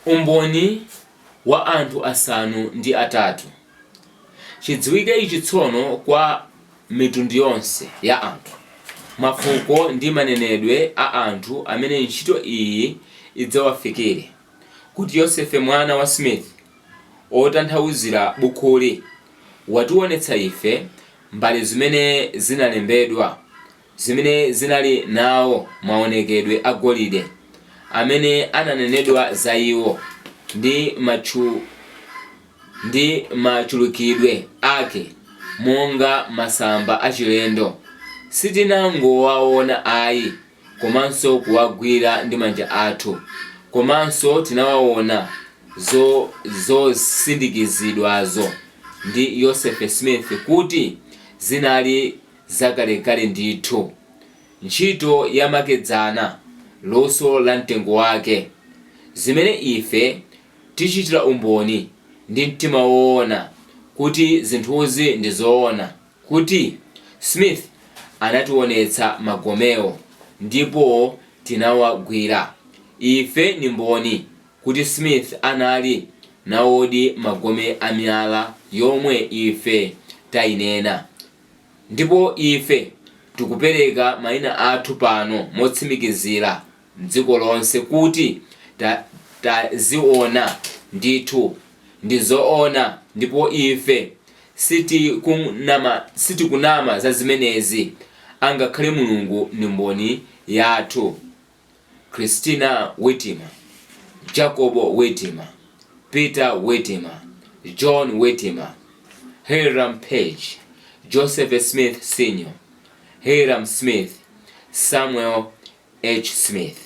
Umboni wa anthu asanu ndi atatu. Chidziwike ichi tsono kwa mitundu yonse ya anthu, mafuko ndi manenedwe a anthu amene ntchito iyi idzawafikire, kuti Yosefe mwana wa Smith, otanthauzira bukhuli, watiwonetsa ife mbale zimene zinalembedwa, zimene zinali nawo mawonekedwe a golide amene ananenedwa za iwo, ndi machulukidwe ake monga masamba achilendo, sitinangowawona ayi komanso kuwagwira ndi manja athu, komanso tinawawona zosindikizidwazo ndi Yosefe Smith kuti zinali. zakalekale ndithu, ntchito yamakedzana, luso la mtengo wake, zimene ife tichitira umboni ndi mtima woona kuti zinthuzi ndi zoona, kuti, Smith anationetsa magomewo, ndipo tinawagwira. Ife ni mboni kuti Smith anali nawodi magome a miyala yomwe ife tainena. Ndipo ife tikupereka maina athu pano motsimikizira, mdziko lonse, kuti taziwona ndithu. Ndi zoona, ndipo ife sitikunama, sitikunama za zimenezi, angakhale Mulungu ndi mboni yathu. Christina Whitmer, Jacobo Whitmer, Peter Whitmer, John Whitmer, Hyrum Page, Joseph Smith Sr., Hyrum Smith, Samuel H. Smith.